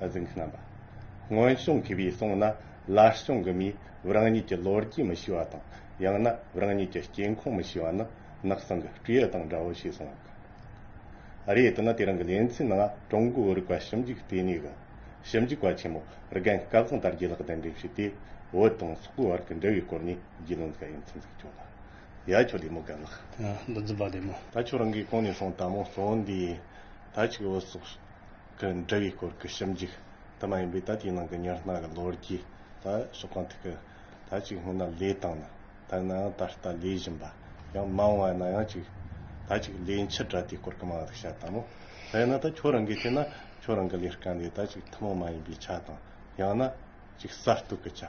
འཛིན་མཁན་རྣམ་པ། སྔོན་བྱུང་གི་བའི་གསུང་ན་ལར་བྱུང་གི་མིས་རང་ཉིད་ཀྱི་ལོ་རྒྱུས་མི་ཤེས་པ་དང་ཡང་ན་རང་ཉིད་ཀྱི་སྐྱེས་ཁུངས་མི་ཤེས་པ་ནི་ནགས་སྲང་གི་སྤྲེའུ་དང་འདྲ་བོ་ཞེས་གསུང་བ་ཀ་རེད་དེ་ནི་དེ་རིང་གི་ལེ་ཚན་ནང་ཀྲུང་གོའི་རིག་པ་ཞིབ་འཇུག་ལྟེ་གནས་ཀྱི་ཞིབ་འཇུག་པ་ཆེན་མོ་རྒན་བཀའ་བཟང་དར་རྒྱས་ལགས་གདན་འདྲེན་བྱས་ཏེ་བོད་དང་སོག་པོའི་བར་གྱི་འབྲེལ་བའི་སྐོར་ནས་རྒྱུས་ལོན་ག་ཡོད་མཚམས་འཛེགས་བྱུང་ལ་ཡ་ཁྱོད་ལེ་མོ་དགའ་ལགས། མདོ་འཛིན་པ་ལེ་མོ། ད་ཁྱོད་རང་གིས་གང་ནས་སོང་ད་མོ་གཙོ་བོ་འདི་ད་ཅིག་བོད་སོག་གི་འབྲེལ་བའི་སྐོར་གྱི་ཞིབ་འཇུག་དུ་མ་ཡིན་པས་ད་དེའི་ནང་གི་ཉེར་སྣང་གི་ལོ་རྒྱུས་དང་ཕྱོགས་གང་ཐད་ཀྱི་ཐ་ཅིག་སྔོན་ན་ལས་དང་ན་དར་ནའང་ད་ལྟ་ལས་བཞིན་པ་ཡང་མང་བ་ན་ཡང་ཅིག་ད་ཅིག་ལས་མཆེད་གྲ་དེའི་སྐོར་གྱི་མང་རིག་བྱ་དང་མོ་དེས་ན་ད་ཁྱོད་རང་གིས་བལྟས་ན་ཁྱོད་རང་གི་ལས་སྐལ་འདི་ད་ཅིག་ཐུན་མོང་མ་ཡིན་པའི་ཆ་དང་ཡང་ན་ཅིག་གསར་གཏོད་ཀྱི་ཆ།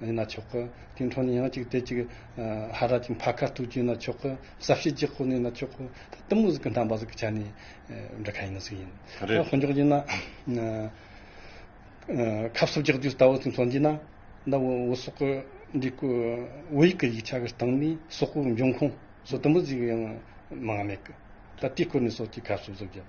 ཡིན་ན་ཆོག་གི། དེའི་འཕྲོ་ནས་ཡང་གཅིག་དེ་གཅིག། ཧ་ར་ཅིག་འཕར་ཁ་ཐུག་གྱིན་ན་ཆོག་གི། ཟབ་བཤད་ཅིག་ཁོ་ནས་ཡིན་ན་ཆོག་གི། ད་གཏི་མུག་ཟིག་གི་འདམ་པ་ཟིག་གི་ཆ་ནས། འདྲི་ཁ་ཡིན་ན་ཟིག་ཡིན། རེད། ཧོན་འཇོག་གྱིན་ན། ཁབ་སོབ་རྒྱག་དུས་ལྟ་བུ་ཟིག་མཚོན་གྱིན་ན། ད་བོད་སོག་གི་འདི་སྐུ། བོད་ཡིག་གི་ཡིག་ཆ་གི་སྟེང་ནས་སོག་པོའི་འབྱུང་ཁུངས། སོག་གཏི་མུག་ཟིག་ཡང། མང་ང་མེད་གི། ད་དེའི་སྐོར་ནས་སོག་ཅིག་ཁབ་སོབ་སོབ་རྒྱབ།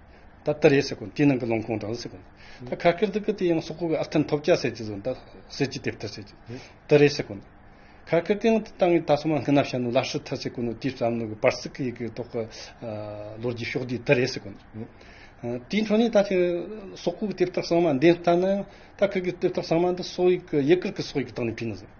ད་ད་རེད་ཟེར་གོ་དེའི་ནང་གི་ལོང་ཁོང་འདྲ་ཟེར་གོ། ད་ཁ་སྐད་འདི་གི་དེ་ཡང་སོག་པོ་གི་ཨར་ཐན་ཐོབ་ཅག་ཟེར་གྱི་ཟོ་ད་ཟེར་གྱི་དེབ་ཐ་ཟེར་གྱི་ད་རེད་ཟེར་གོ། ཁ་སྐད་དེ་ཡང་དེ་ཏང་གི་ད་སོ་མ་སྔི་ན་བྱ་ནོ་ལ་ཧྲི་ཐ་ཟེར་གོ་ནོ་དེའི་བསམ་བློ་གི་པར་སི་ཀི་ཡི་གི་ཐོག་གི་ལོ་རྒྱུས་ཤོག་དེའི་ད་རེད་ཟེར་གོ། དེའི་འཕྲོ་ནས་ད་ཁྱི་སོག་པོ་གི་དེབ་ཐག་གསང་མ་འདེན་ཐ་ན་ཡང་ད་ཁི་གི་དེབ་ཐག་གསང་མ་འདི་སོག་ཡིག་གི་ཡི་གིར་གི་སོག་ཡིག་གི་སྟེང་ནས་འཕེན་ནོ་ཟེར།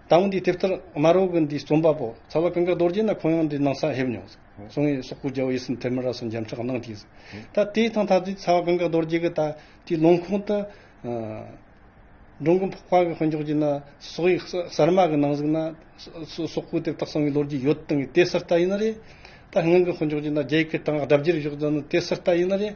ད་བུ་འདིའི་དེབ་ཐེར་དམར་བོ་གི་འདི་རྩོམ་པ་པོ་ཚ་བ་ཀུན་དགའ་རྡོ་རྗེ་ནས་ཁོང་ཡང་འདི་ནང་ས་ཧེབ་མྱོང། སོང་ངས་སོག་པོའི་རྒྱལ་པོ་ཡེ་སི་མཐེ་མི་ར་སོགས་འཇམ་ཕྱག་གནང་གྱིས། ད་དེའི་ཐང་ཐ་དུས་ཚ་བ་ཀུན་དགའ་རྡོ་རྗེ་གི་ད་དུས་ལུང་ཁུངས་དུ། འབྲོང་ཀུན་འཕགས་པ་གི་དཔོན་ཆོག་གྱིས་ན་སོག་ཡིག་གསར་མ་གི་ནང་ཟིག་ན། སོག་པོའི་དེབ་རྟགས་སོང་གི་ལོ་རྒྱུས་ཡོད་དང་གི་དེ་སི་རྟ་ཡིན་ན་རེད། ད་ངང་གི་དཔོན་ཆོག་གྱིས་ན་རྒྱ་ཡིག་གི་གྲངས་ཀ་སྒྲ་བརྗེ་རུ་བཞུགས་ད་ནི་དེ་སི་རྟ་ཡིན་ན་རེད།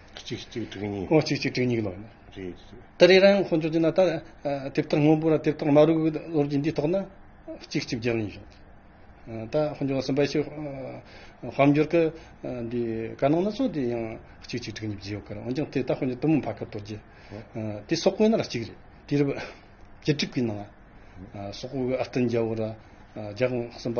གཅིག་གཅིག་དྲུག་གཉིས། ཨོ་གཅིག་གཅིག་དྲུག་གཉིས་ལོ། རེད། ད་རེས་རང་ཁོང་ཚོ་ཅི་ན་ད་དེབ་ཐེར་སྔོན་པོ་ར་དེབ་ཐེར་དམའ་རུ་གི་ལོ་རྒྱུས་འདིའི་ཐོག་ན་གཅིག་གཅིག་བརྒྱད་གཉིས་བྱུང་སོང། ད་ཁོང་ཚོ་སུམ་པ་ཤི་དཔལ་འབྱོར་གི་འདི་དཀའ་སྣང་སྣ་ཚོགས་དེ་ཡང་གཅིག་གཅིག་དྲུག་གཉིས་བརྒྱད་ཡོད་ཀར་འོན་ཀྱང་དེ་ད་ཁོང་ཚོ་གཏུམ་མོ་འཕར་སྐབས་དོར་རྗེས་དེ་སོག་པོའི་ནང་ལ་གཅིག་རེད་དེ་རུ་བཅུ་དྲུག་གི་ནང་སོག་པོ་གི་ཨར་ཏི་འཇའ་བོ་ར་རྒྱ་གོང་གསུམ་པ་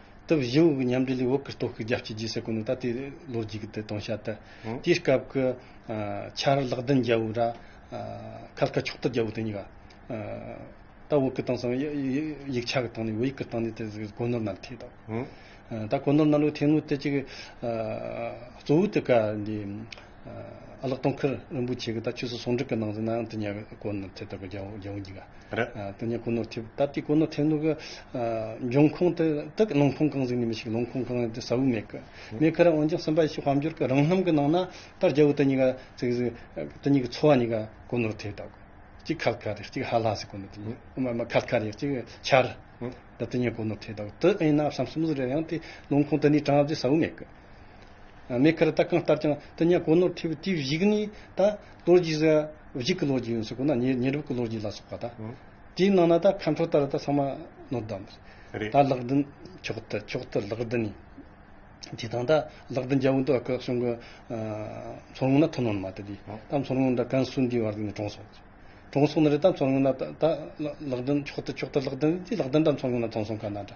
དུ་བཞི་བོ་གི་མཉམ་འབྲེལ་ལས་འོག་གི་སྟོབས་ཤུགས་རྒྱ་བསྐྱེད་རྗེས་སུ་གོ་ནུས་ད་ལྟའི་ལོ་རྒྱུས་ཀྱི་དེ་སྟོང་ཤ་སྟག། དེའི་སྐབས་ཀྱི་ཆར་རླག་བདུན་རྒྱལ་པོ་ར། ཁལ་དཀར་ཕྱོགས་དར་རྒྱལ་པོ་དེ་གཉིས་ཀ། ད་བོད་ཀྱི་སྟེང་སང་ཡིག་ཆ་གི་སྟེང་ནས་བོད་ཡིག་གི་སྟེང་ནས་དེ་གོ་ནོར་གནང་ཐེག་དང། ད་གོ་ནོར་གནང་ལུགས་ཐེངས་ངུ་དེ་གཅིག་གི། གཙོ་བོ་དེ་ག་འདི། ཨ་ལགས་སྟོང་ཁར་རིན་པོ་ཆེ་གི་ད་ཆོས་སུ་ཟུང་འབྲེལ་གི་ནང་ཟིན་ནའང་དུ་ཉལ་བའི་གོ་ནོར་ཐེབས་ཐུབ་པ་རྒྱལ་བོ་འགྱིག་ར་དུ་ཉལ་གོ་ནོར་ཐེབས་ད་ལྟའི་གོ་ནོར་ཐེབས་འདུག་འབྱུང་ཁུངས་དེ་དག་ལུང་ཁུངས་གང་ཟིག་ནས་མི་ཤིག་ལུང་ཁུངས་གང་ཡིན་དེ་ཟ་འུ་མེད་གི་མེད་གི་རེད་འོན་ཀྱང་སེམས་པ་ཡེ་ཤེས་དཔལ་འབྱོར་གི་རང་རྣམ་གི་ནང་ན་ད་རྒྱལ་བོ་དེ་གཉིས་ཀ་ཚིག་ཟིག་དེ་གཉིས་ཀྱི་འཚོ་བ་གཉིས་ཀ་གོ་ནོར་ཐེབས་ད་གོ་གཅིག་ཁལ་ཁ་རེད་གཅིག་ཧ་ལ་ཟིག་གོ་ནོར་ཐེབས་ཨ་མ་མ་ཁལ་ཁ་རེད་གཅིག་ཆར་ད་དུ་ཉལ་གོ་ནོར་ཐེབས་ད་གོ་དེ་ཨེ་ཡིན་ནའ་བསམ་སོང་ཟིག་རེད་ཡང་དེ་ལུང་ཁུངས་དེ་ནས་དྲངས་བ་དེ་ཟ་འུ་མེད་གི། མེ་ཁར་ལྟ་གང་ལྟར་ཀྱང་དུ་ཉག་གོ་ནོར་ཐེབས་དུས་བཞུགས་ནས་ད་ལོ་རྗེས་སུ་བཞུགས་ཀྱི་ལོ་རྒྱུས་ཡོད་སྲིད་ཁོ་ན་ཉེ་རབས་ཀྱི་ལོ་རྒྱུས་ལ་སོགས་པ་དང། དེའི་ནང་ན་ད་མཁའ་འགྲོ་ལྟར་ད་ཚང་མ་ནོར་བདག་མོ་རེད། ད་ལག་བདུན་ཕྱོགས་བསྟུད་ཕྱོགས་བསྟུད་ལག་བདུན་ནས་དེ་དང་ད་ལག་བདུན་རྒྱལ་པོ་འདུག་སྐབས་གསུམ་གྱི་མཚོ་སྔོན་ན་ཐུ་ནོར་མ་དེ་དུས་ད་མཚོ་སྔོན་ད་ཀན་སུའུ་འདིའི་བར་དུ་ནས་གྲོངས་སོང། གྲོངས་སོང་ན་རེད་ད་མཚོ་སྔོན་ན་ད་ལག་བདུན་ཕྱོགས་བསྟུད་ཕྱོགས་བསྟུད་ལག་བདུན་ནས་དེ་ལག་བདུན་ད་མཚོ་སྔོན་ན་གྲོངས་སོང་ག་ན་འདྲ།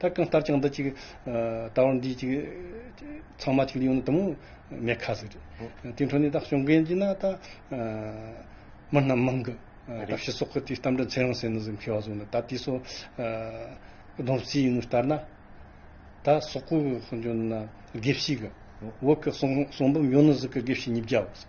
ད་གང་ལྟར་ཀྱང་འདི་ཅིག་ད་བར་འདི་ཅིག་ཚང་མ་ཅིག་ལ་ཡོང་ན་དུ་མོ་མེད་ཁ་ཟིག་རེད། དེའི་འཕྲོ་ནས་ད་བྱུང་མཁན་གྱི་ན་ད་མི་རྣམས་མང་གི། ད་ཕྱི་སོག་གི་དེའི་གཏམ་འདྲ་འཚེར་ཡང་ཟེར་ནི་ཟིག་མཁས་བ་ཟུང་ནི་ད་དེ་སོ་སྡོམ་རྩིས་ཡིན་ནི་ལྟར་ན། ད་སོག་པོ་གི་འཇོན་ན་དགེ་བཤེས་གི་འོག་གི་གསུང་འབུམ་ཡོང་ནི་ཟིག་གི་དགེ་བཤེས་ཉིས་བརྒྱ་བ་ཟིག།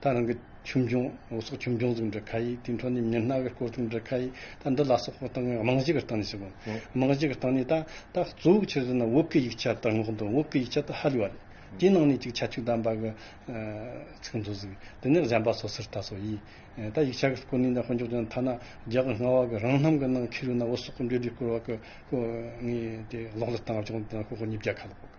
ད་རང་གི་ཁྱིམ་སྦྱོང་ལོ་སོགས་ཁྱིམ་སྦྱོང་ཚུགས་འདྲི་ཁ་ཡིག་དེའི་འཕྲོ་ནས་མི་སྣ་གི་སྐོར་ཚུགས་འདྲི་ཁ་ཡིག་ད་འདི་ལ་སོགས་སྐོར་སྟངས་རྨང་གཞི་གི་སྟངས་ནས་བྱེད་དགོས། རྨང་གཞི་གི་སྟངས་ནས་ད་ད་གཙོ་བོ་ཆེ་རིགས་ན་འོབས་ཀྱི་ཡིག་ཆ་དར་ངོགས་འདུག་འོབས་ཀྱི་ཡིག་ཆ་དེ་ཧ་ལས་བ་རེད། དེའི་ནང་ནས་ཅིག་ཆ་ཆུ་དམ་པ་གི་ཚིག་མཛོད་ཟིག་དེ་ནས་གཞན་པ་སོ་སོར་ལྟ་སོ་ཡིས། ད་ཡིག་ཆ་གི་སྐོར་ནས་ད་ཧོན་ཅོག་ཅན་ཐ་ན་རྒྱ་གི་རྔ་བ་གི་རང་རྣམ་གི་ནང་ཁེ་རུ་ན་འོ་སོགས་སྐོར་འདྲི་འདྲི་སྐོར་བ་ཀུ་ཀུ་ངས་དེ་ཀློག་ལ་བཏང་བ་ཅུང་དེ་ན་ཀུ་ཀུ་ཉིས་བརྒྱ་ཁ་ལོག།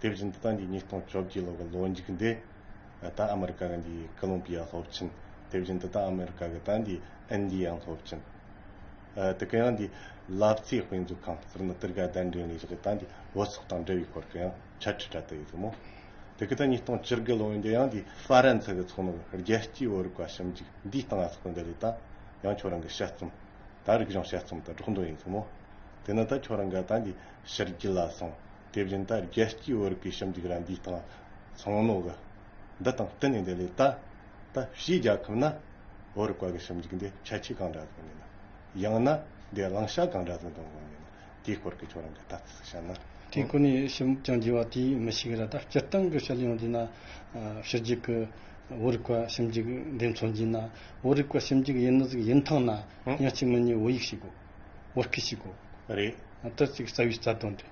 དེ་བཞིན་དུ་ད་འདི་ཉིས་སྟོང་བཅོ་བརྒྱད་ལོ་གི་ལོ་མཇུག་འདི་ད་ཨ་མི་རི་ཀ་གི་འདི་ཀོ་ལོམ་པི་ཡ་སློབ་ཆེན་དེ་བཞིན་དུ་ད་ཨ་མི་རི་ཀ་གི་ད་འདི་ཨིན་དི་ཡའང་སློབ་ཆེན་དེ་གི་ཡང་འདི་ལབ་རྩིས་དཔེ་མཛོད་ཁང་ཟེར་ན་སྟེར་ག་བདའ་འདྲེན་ལས་བྱེད་ད་འདི་བོད་སོག་དང་འབྲེལ་བའི་སྐོར་གི་ཡང་ཕྱག་ཁྲིད་གྲ་ཏི་ཡོད་དུ་མོ་དེ་གི་ད་ཉིས་སྟོང་བཅུ་དགུ་ལོ་འདི་ཡང་འདི་ཧྥ་རན་སི་གི་ཚོགས་མི་རྒྱལ་སྤྱིའི་བོད་རིག་པ་ཞིབ་འཇུག་འདིའི་སྟེང་ཨ་ས་ཀོ་འདི་ལས་ད་ཡང་ཁྱོད་རང་གི་དཔྱད་རྩོམ་ད་རིག་གཞུང་དཔྱད་རྩོམ་དུ་སྒྲོག་འདོན་ཡོད་དུ་མོ་དེ་ནི་ད་ཁྱོད་རང་གི་ད་འདི་ཕྱི་རྒྱུད་ལ་སོང། དེ་བཞིན་ད་རྒྱལ་སྤྱིའི་བོད་རིགས་ཀྱི་ཞིབ་འཇུག་རང་བཞིན་དང། ཚང་ནོ། གི། འདི་དང་གཏན་ནས་འདི་ལས་ད། ད་ཕྱིའི་རྒྱལ་ཁབ་ན། བོད་རིག་པ་གི་ཞིབ་འཇུག་འདི་ཁྱད་ཆོས་གང་འདྲ་དགོས་ངེས་ན། ཡང་ན། འདི་བླང་བྱ་གང་འདྲ་དུ་འདོན་དགོས་ངེས་ན། དེའི་སྐོར་གྱི་ཁྱོད་རང་གི་ལྟ་ཚུལ་སུ་བྱ་ན། དེའི་སྐོར་ནས་ཞིབ་མོ་ཅང་བགྱི་བ་དེ་མི་ཞིག་ར་ད་སྤྱིར་བཏང་གི་ཤེས་ཡོན་འདི་ན། ཕྱི་རྒྱལ་གྱི། བོད་རིག་པ་ཞིབ་འཇུག་འདི་མཚོན་བགྱི་ན། བོད་རིག་པ་ཞིབ་འཇུག་ཡིན་ནི་ཟིག་ཡིན་ཐང་ན། ཡང་གཅིག་མི་གཉིས་བོད་ཡིག་ཞིག་གོ། བོད་སྐད་ཞིག་གོ། རེད། དེར་ཅིག་རྩ་བའི་རྩ་དོན་དེ།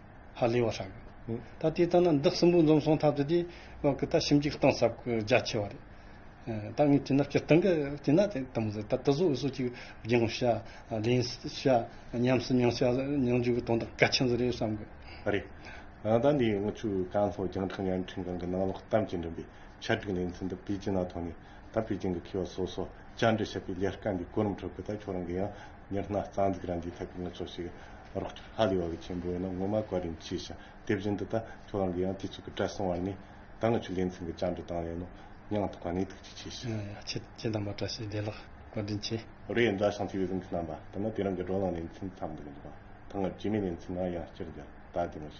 ཧ་ལས་བ་ཧྲག་གི་ད་དེ་ལྟ་ན་འདག་སྲིན་པོ་འཛོམས་སོང་ཐབས་དེ་དེ་བ་གི་ད་ཞིམ་གྱི་གཏིང་ཟབ་གི་རྒྱ་ཆེ་བ་རེད་ད་ངས་བྱིན་ན་སྤྱིར་བཏང་གི་བྱིན་ན་དེ་ལྟ་མི་བཟོད་ད་དུ་བཟོ་བཟོ་ཅིག་སྦྱིན་བྱ་ལེན་བྱ་ཉམས་སུ་མྱོང་བྱ་མྱོང་འཇུག་གི་དོན་དག་གལ་ཆེན་ཟིག་རེད་བསམ་གི། རེད་ད་འདིའི་དངུལ་ཆུ་རྐང་ལྷོ་རྒྱང་ཕྲང་ཡར་འཕྲིན་ཁང་གི་ནང་ལོག་གཏམ་གྱི་འགྲིམ་པའི་ཆ་སྒྲིག་ལེ་ཚན་འདི་པེ་ཅིན་ནང་ཐོན་ནས་ད་པེ་ཅིན་གི་མཁས་པ་སོ་སོ་བཅར་འདྲི་བྱེད་པའི་ལས་དཀའ་འདིའི་གོ་རིམ་ཁྲོད་གི་ད་ཁྱོད་རང་གི་ཡང་ཉི་སྣ་རྩ་འཛུགས་རང་གིས་ཐད་ཀར་ངོ་ཚོགས་ཤིག་རོགས་སྐྱོར་ཧ་ལས་བ་གི་ཆེན་པོ་ཡིན་ན་ངོ་མ་ག་རེ་མཆིས་ཤིང་དེ་བཞིན་དུ་ད་ཁྱོད་རང་གིས་ཡང་དུས་ཚོད་ཀྱི་བཀྲ་སྲུང་བར་ནས་ད་ང་ཆུ་ལེན་ཚུན་གྱི་བཅར་འདྲི་དང་ལེན་ནོ་སྙིང་ཐག་པ་ནས་ཐུགས་རྗེ་ཆེ་ཞུ། ཡང་ཡང་ཁྱེད་ཀྱི་གདམས་པ་བཀྲ་ཤིས་བདེ་ལགས་བཀའ་དྲིན་ཆེ། རེད་མཛའ་ཞིང་ཚིག་གཟིགས་མཁན་རྣམས་པ་ད་ནི་དེ་རིང་གི་བགྲོ་གླེང་ལེན་ཚུན་འཐབ་འདུག་འདུག་པ་ད་སྔར་རྗེས་མའི་ལེན་ཚུན་ནང་ཡང་སྤྱིར་རྒྱ་དར་དེ་མ་བྱས།